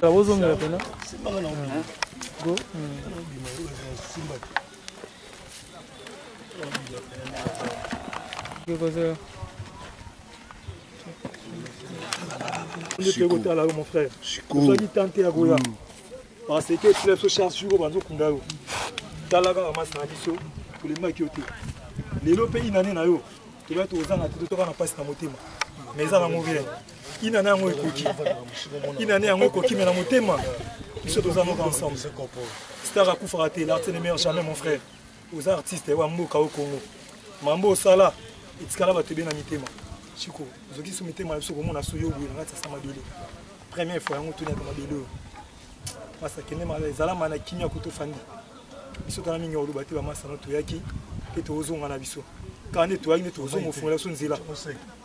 bozongela pena go Gogozo. Chico. mon frère. Chico. Nous dit tenter ya goya. Mm. Parce que club so charge Chico banzo kunda yo. Tala kaka masana biso. Kulemaki yo te. Lelo pe inane na yo. toya tozanga te totoka na mpasi na motema mais eza nango bien inane yango ekoki inane yango ekoki me na motema biso toza noka ensemble star akufaka te l'arte ne meilleur jamais mon frère oza artiste wa mboka o congo mambo osala etikala bato ebe na mitema chiko ozokisi mitema na biso komona soyo boye na kati ya sa mabele première fois yango toniaka mabele oyo masa kende mala ezala mana kimia kutu fandi biso tala mingi oluba te bamasa no toyaki mpe tozonga na biso kaka nde toyaki nde tozonga ofungola biso nzela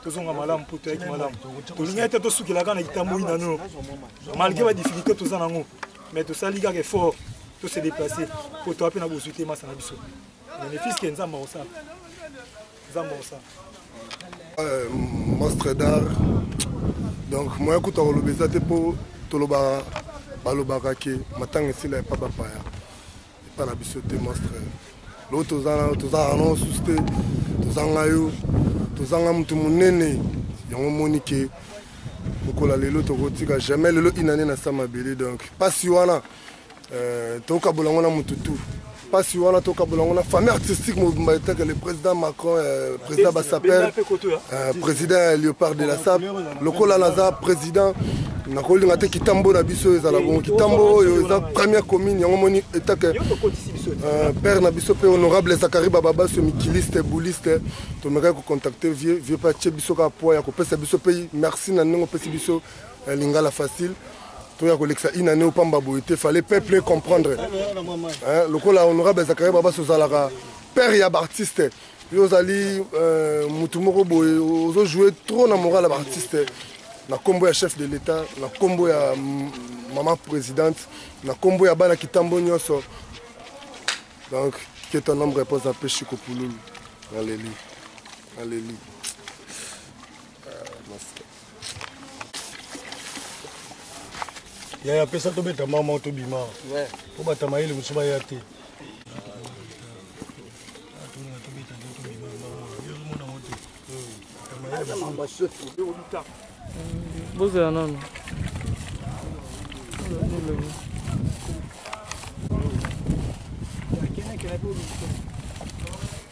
tozonga malamu mpo toyaki malamu tolingaki te tosukelaka na litamboli na nono malgre badifficulté toza nango mais tosali kaka effort tose déplace mpo toa mpe na bozwi te masa na biso bénéfice ke nzambe akosala Zamba osa. Euh, monstre d'art. Donc moya kuta koloba eza te mpo tolobaka balobaka ke matanga esila epa bapaya epa na biso te monstre lo tozana tozalaka nango susu te tozanga yo tozanga motu monene yango omoni ke lokola lelo tokotika jamais lelo inane na sa mabele donc mpasi wana Euh, tokabola yango na motu tout mpasi wana tokabola yango na famille artistique mobimba etake le président macron euh, président basaper euh, président ya léopard de la sap lokola naza président nakolinga te kitambo na biso ezala bongo kitambo oyo eza première commune yango moni etake père na biso mpe honorable zakari bababaso mikiliste bouliste tomekaki kocontacte vieux vieux mpe atie biso kaka poids ya kopesa biso mpe merci na ndenge opesi biso ya lingala facile toya kolekisa une année opamba boye te fallait peuple comprendre hein, lokola honorable zakaria babasi ozalaka père ya baartiste yo ozali euh, motu moko boye ozojoue trop na moral ya baartiste na nkombo ya chef de l'état na nkombo ya maman présidente na nkombo ya bana kitambo nyonso donc que ton homme repose en paix chikopululu naleli naleli yaya apesa tobeta mama tobima mpo batamayele mosusu baya te bozela nano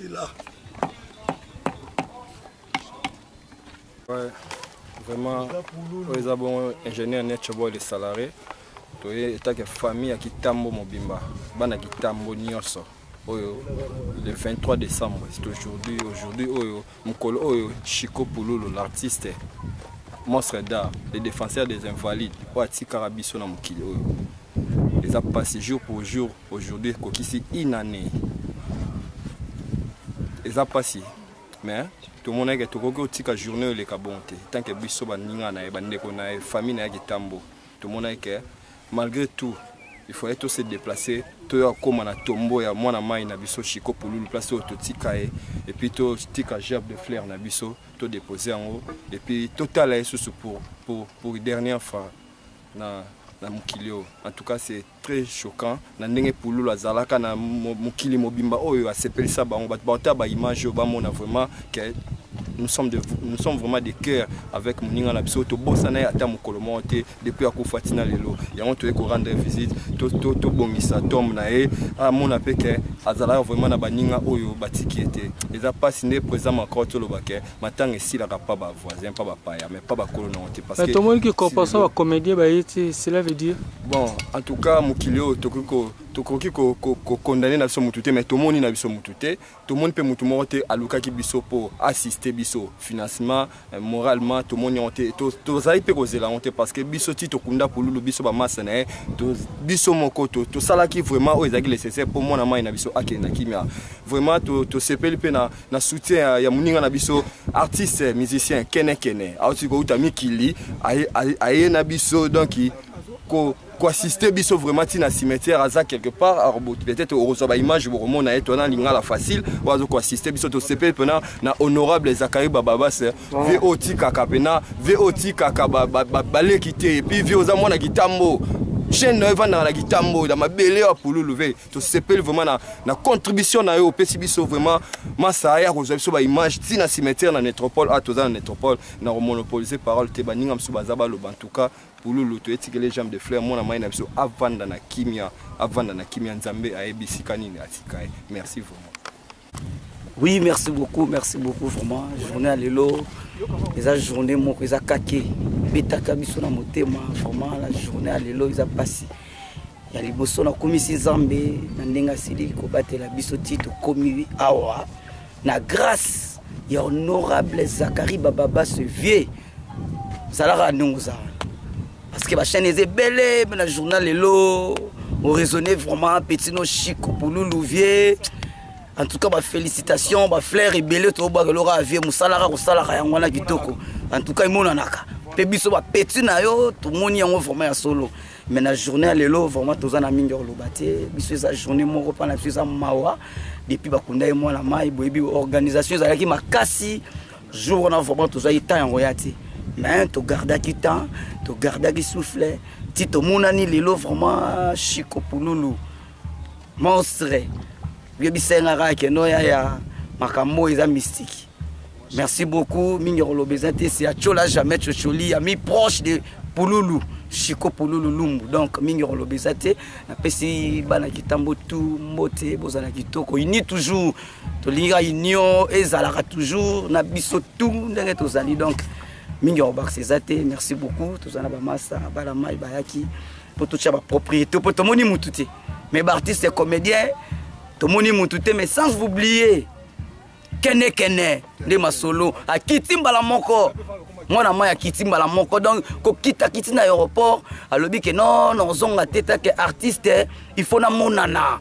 Ila. Ouais, vraiment, oyo eza bongo ingénieur Nietzsche Boy le salarié toye etake famille ya kitambo mobimba bana kitambo nyonso oyo le 23 décembre c'est aujourd'hui aujourd'hui oyo mokolo oyo chico pululu l'artiste monstre d'art le défenseur des invalides oyo atikaka biso na mokili oyo eza mpasi jour pour jour aujourd'hui ekokisi une année eza mpasi mais tomonaki ke tokoki kotika journée oyo eleka bon te tant ke biso baninga na ye bandeko na ye famille na ye kitambo tomonaki ke malgré tout il fallait to se déplacer toya kokóma na tombo ya mwana mai na biso chiko pululu place oyo totika ye epuis totika gerbe de flaire na biso todépose yango epuis totala ye susu pour, pour, pour dernière fois na, na mokili oyo en tout cas c'est très choquant na ndenge pululu azalaka na mokili mobimba oyo asepelisa bango bato baotala baimage oyo bamona vraiment ke nous sommes, de, nous sommes vraiment des cœurs avec moninga na biso tobosana ye ata mokolo moko te depuis akufa ntina lelo yango toyei korendre visite tobongisa to, to tombe na ye amona mpe ke azalaka vraiment na baninga oyo batiki ye te eza mpasi nde président macron toloba ke matanga esilaka pa ba voisin pa ba paya mais pa bakolo nango te parce que tomoni ki compensation ba comédien baye ti cela veut dire bon en tout cas mokili oyo tokoki ko tokoki kokondane na biso motu te mais tomoni na biso motu te tomoni mpe motu moko te alukaki biso mpo assiste biso financement euh, moralement tomoni yango te tozali mpe kozela yango te parce que biso ti tokunda pululu biso bamasa na ye biso moko tosalaki vraiment oyo ezalaki nécessaire mpo mwana mai na biso akende na kimia vraiment tosepeli mpe na na soutien ya, ya moninga na biso artiste musicien kene kene auti kouta mikili aye, aye, aye na biso donc ko koassiste biso vraiment ntina cimetière aza quelque part aroboti peut-être okozwa baimage bokomona ye tona lingala facile oyo aza koassiste biso tosepeli mpena na honorable zakari bababas vie otikaka mpena vie otikaka baleki te epuis vie oza mwana kitambo chaîne na yo evandaka na kitambo na mabele ya pululu ve tosepeli vraiment na, na contribution na yo opesi biso vraiment masaya ya kozwa biso baimage ti na cimetière na nétropole a ah, toza na nétropole na komonopolise parole te baninga mosusu baza baloba en tout cas pululu toyetikele jambe de fleur mwana mai na biso avanda na kimia avanda na kimia nzambe ayebi esika nini atika ye merci vraiment Oui, merci beaucoup, merci beaucoup vraiment. Journée à l'élo, les a journée moko, les a kaké. Betaka biso na motema, vraiment la journée à l'élo, ils a passé. Ya liboso na komisi Nzambe na ndenge asili kobatela biso ti tokomi awa na grâce ya honorable Zachary Bababa ce vieux zalaka ndenge ozala parce que bachaine eza ebele mpe na journal lelo oraisonne vraiment petit no chico pululu vie en tout cas bafélicitation bafleur ebele tobwaka eloko ya vie mosalaka kosalaka yango wana kitoko en tout cas emonanaka mpe biso bapeti na yo tomoni yango vraiment ya solo mais na journée ya lelo vraiment toza na mingi ya koloba te biso eza journée moko mpa na biso eza mawa depuis bakunda ye mwana mai boyebi organisation ezalaki makasi jour wana vraiment tozwaki temps yango ya te mais togardaki temps togardaki souffle ti tomonani lelo vraiment chiko pululu monstre yebisa nga kaka keno ya ya makambo oyo eza mystique merci beaucoup mingi koloba eza te se atiola jamais cocoli ya mi proche de pululu chiko pululu lumbu donc mingi koloba eza te napesi bana kitambo tu mbote bozala kitoko uni toujours tolingi ka union ezalaka toujours na biso tout ndenge tozali donc mingi ya kobakisa eza te merci beaucoup toza na bamasa bana mai bayaki mpo totya bapropriété mpo tomoni mutu te mais baartiste comédien tomoni mutu te mais sans oublier kenekene nde masolo akiti mbala moko mwana mai akiti mbala moko donc kokita kiti na aéroport alobi ke non nozonga te take artiste il faut namonana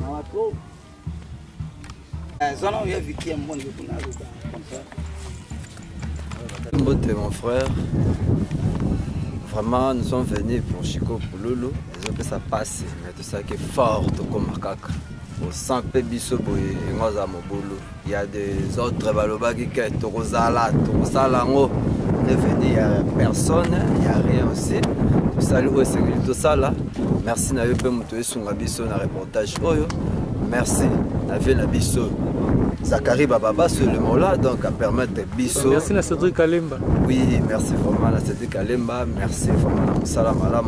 Mawa trop. Eh, zana oyo ya Vicky ya mbongo kuna aluka comme ça. Mbote mon frère. Vraiment, nous sommes venus pour Chico Pululu. Ils ont fait ça passer, mais tout ça qui est fort, tout comme Makaka. Au sang, Pébiso, Boye, et moi, à Mobolo. Il y a des autres balobaki que tokozala tokosala yango devenu ya personne ya rien aussi tosali oyo esengeli tosala merci na yo mpe moto esunga biso na reportage oyo merci na vie na biso Zachary Bababa sur le Mola, donc à permettre Bisso. Merci à Cédric Kalemba. Oui, merci vraiment à Cédric Kalemba, merci vraiment à Moussala Malam,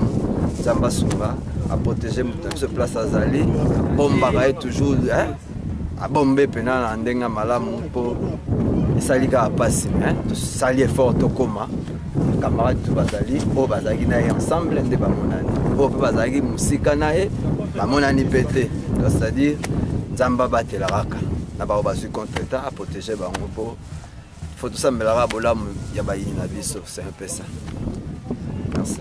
Zamba Soumba, à protéger Moutamso Place Azali, Bomba toujours. Hein? abombe mpena na ndenge ya malamu mpo esali kaka mpasi me tosali effort tokóma camarade tu bazali oyo bazalaki na ye ensemble nde bamonani oyo mpe bazalaki mosika na ye bamonani mpe te c'est-à-dire nzambe abatela kaka na bango bazwi contre temps aprotege bango mpo fo tosambelaka bolamu ya bayini na biso c'est un peu ça merci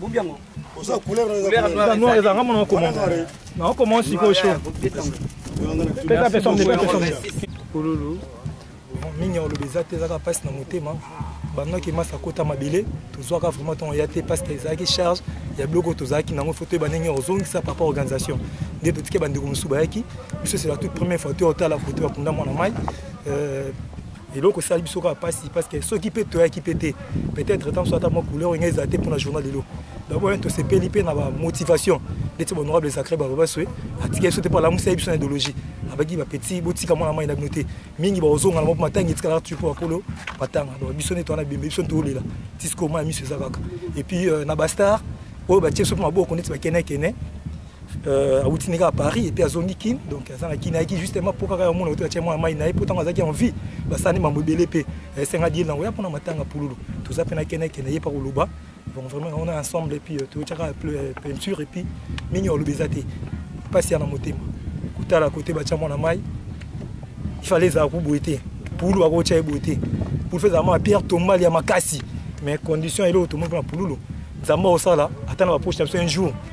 bombi yango oza couleur eza noir eza nga mona okoma na okoma sikoyo sho pesa pesa mde pesa mde kululu mingi ya oloba eza te ezaka mpasi na motema bandaki masa akota mabele tozwaka vraiment ntongo ya te parce que ezalaki charge ya biloko tozalaki nango fo toyeba ndenge ozongisa papa organisation nde totike bandeko mosusu bayaki biso c'est la toute première fois toyotala kote bakunda mwana mai euh, eloko esali biso kaka mpasi parce que soki mpe toyaki mpe te peut-être ntango so ata mwa couleur oyo ngai ezala te mpona journal lelo yango wana tosepeli mpe na bamotivation ndeti bahonorable zacre bababaswe atika biso te mpo alamusa ye biso na idéologie abaki bapetit botika mwana mai na bino te mingi bakozonga na moko matanga etikala kaka tupo bakolo batanga donc biso neti wana bembe biso ntolela tisikoma ya miso eza kaka epuis euh, na bastar oyo batie biso mpe maboko neti bakenekene euh, awuti nde kaka paris epuis azongi kin donc aza na kin ayaki justement mpo kaka yamona oto atya mwana mai na ye mpo ntango azalaki en vie basani mambo ebele mpe esenga dieli nango ya mpona matanga pululu toza mpe na keneke na ye mpa koloba donc vraiment on est ensemble epuis euh, totyaka euh, peinture epuis mingi oloba eza te mpasi ya na motema kotala kote batya mwana mai ifale ezala ko boye te pululu bakotya ye boye te pulu fe ezalama pierre tombali ya makasi mais condition eloko tomoni mpona pululu nzambe osala ata na bapoche na biso un jour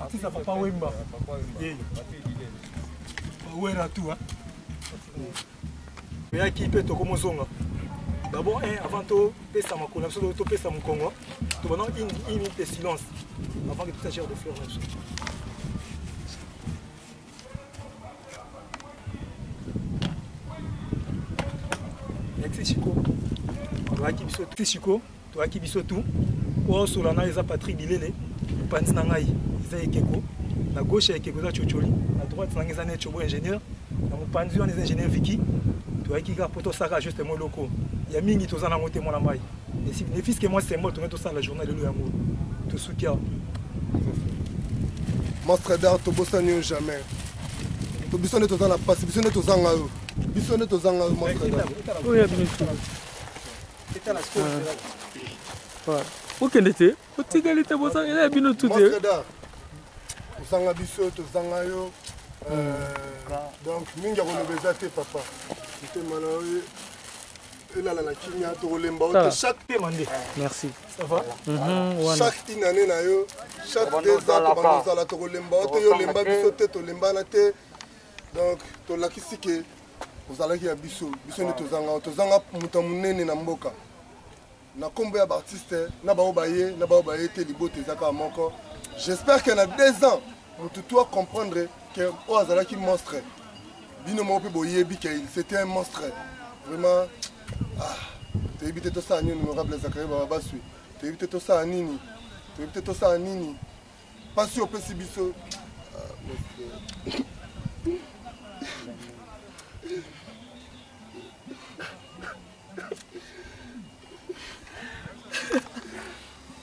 Artiste ya Papa Wemba. Eh. Wera tout hein. Yaki pe tokomo zonga. D'abord un avant to pesa makolo biso to pesa mokongo. To bana une une minute de silence avant que tout ça gère de fleurs. Merci Chico. Toaki biso tout Chico, toaki biso tout. Oyo solana eza Patrick Bilele, panzi na ngai eza ekeko. Na gauche ya ekeko eza Chocholi, na droite na ngai eza Nechobo ingénieur. Na mopanzi wana eza ingénieur Vicky. Toaki kaka poto saka juste mo loko. Ya mingi tozana ngote mwana mai. ne fils que moi symbole tongai tosala la journée lelo yango tosuki awa mastradar tobosani yo jamais to biso nde toza na mpasi biso nde tozanga yo biso nde tozanga yo mastradar okende te otikali te bozanga eza ya bino tu te ozanga biso tozanga yo euh, donc mingi akoloba eza te papa motema na yo elala na kimia tokolemba ote chaque tema nde merci ça va mhm, chaque une année na yo chaque deux ans tobanda ozala tokolemba ote yo olemba biso te tolembana te donc tolakisi ke ozalaki ya biso biso nde tozanga tozanga moto ya monene na mboka na nkombo ya baartiste na baoyo baye na baoyo baye te libota eza kaka moko j'espère que na deux ans motu tu acomprendre ke oyo azalaki monstre bino moko mpe boyebi ke il c'était un monstre vraiment ah, toyebi te tosala nini honorable zakari baba baswi toyebi te tosala nini toyebi te tosala nini mpasi opesi biso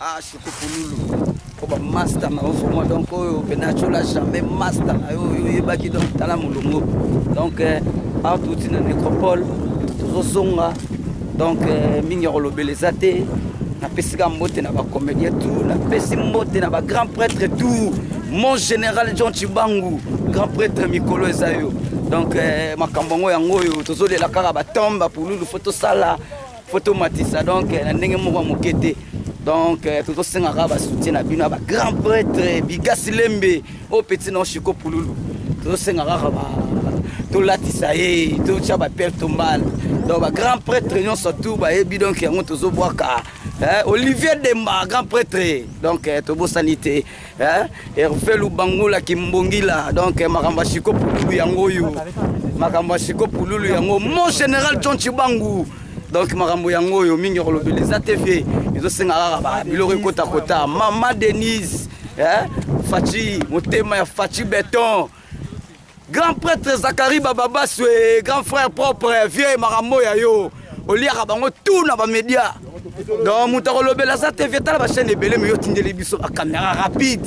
ah shukupululu po bamasta na yo vraimen donc oyo benatiola jamais masta na yo oyo oyebaki donc tala molongo donc eh, awa touti na nécropole tozozonga donc euh, mingi ya kolobela eza te napesi ka mbote na bacomédien tout napesi mbote na bagrand prêtre tout mon général john chibangu grand prêtre mikolo eza yo donc euh, makambo yango yango oyo tozolela kaka batombe bapululu fo tosala fo tomatisa donc euh, na ndenge moko ya moke te donc tozosengaka basoutien na bino ya bagrand prêtre bigasi lembe oyo oh, petit non chiko pululu tozosenga kaka ba tolatisa ye totya bapere tombale donc bagrand prêtre nyonso tu bayebi donc yango tozobwaka eh, olivier demba grand prêtre donc eh, tobosani te eh, herve lubangula kimbongila donc eh, makambo ya siko pululu yango oyo makambo ya siko pululu yango mon général john chibangu donc makambo yango oyo mingi ya kolobela eza te vie ezosenga kaka babiloko ekotakota mama denise eh? faci motema ya faci beton grand prêtre zakari bababaswe grand frère propre vieux makambo ya yo oliaka bango tout na bamédia donc moto akolobela aza te vie tala bachaîne ebele me yo otindeli biso bakamera rapide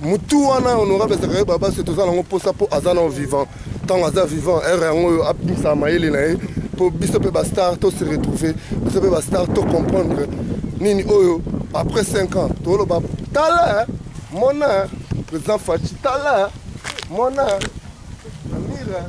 mutu wana honorable zakari babase toza nango mposa mpo aza nao vivant ntango aza vivant ere yango oyo abimisa mayele na ye mpo biso mpe bastar to se retrouver biso mpe bastar to comprendre nini oyo après 5 ans toloba tala mona président faci tala mona amira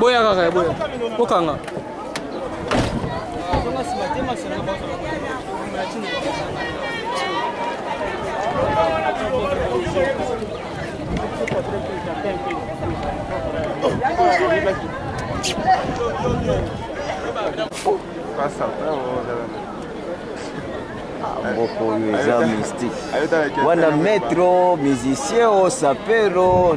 boya kaka ya boya bokanga moko oyo eza mystique wana maître o musicien o sapero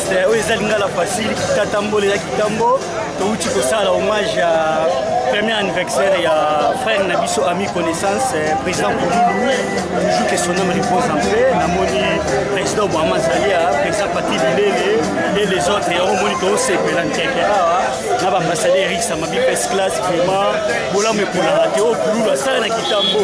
Eh, oyo eza lingala facile tata mbole ya kitambo touti kosala hommage ya premier anniversaire ya frère na biso ami connaissance eh, président polulu toujours que son homme repose en paix namoni président obama azali ya président pati bilele et les autres yango omoni toosepela nkeke awa na bambasade eric samabi pes classe vraiment bolamu ekolaka te oyo oh, polulu asala na kitambo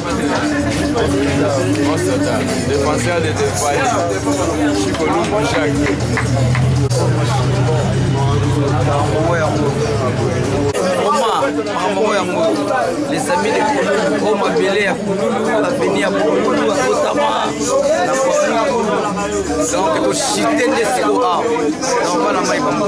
Defenseur de Defai, Chico Lumbo Jacques. makambo yango les amis de kululu o mabele ya kululu aveni ya kululu akotama na kululu donc toshite nde siko awa na bana mai bango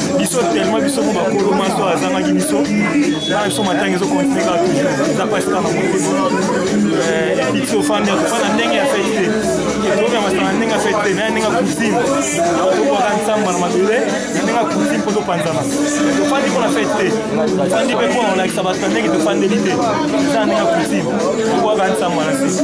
biso tellement biso mo bakolo maso azangaki biso bana biso matanga ezokontinue kaka toujours eza mpasi kaka motema epiti ofandi akofanda ndenge ya fete te ekomi ya masanga ndenge ya fete te naye ndenge ya cousine akotobwaka nsamba na mabele na ndenge ya cousine mpo topanzana tofandi mpo na fete te tofandi mpe mpo na kolakisa bato na ndenge tofandeli te eza na ndenge ya cousine tobwaka nsamba na se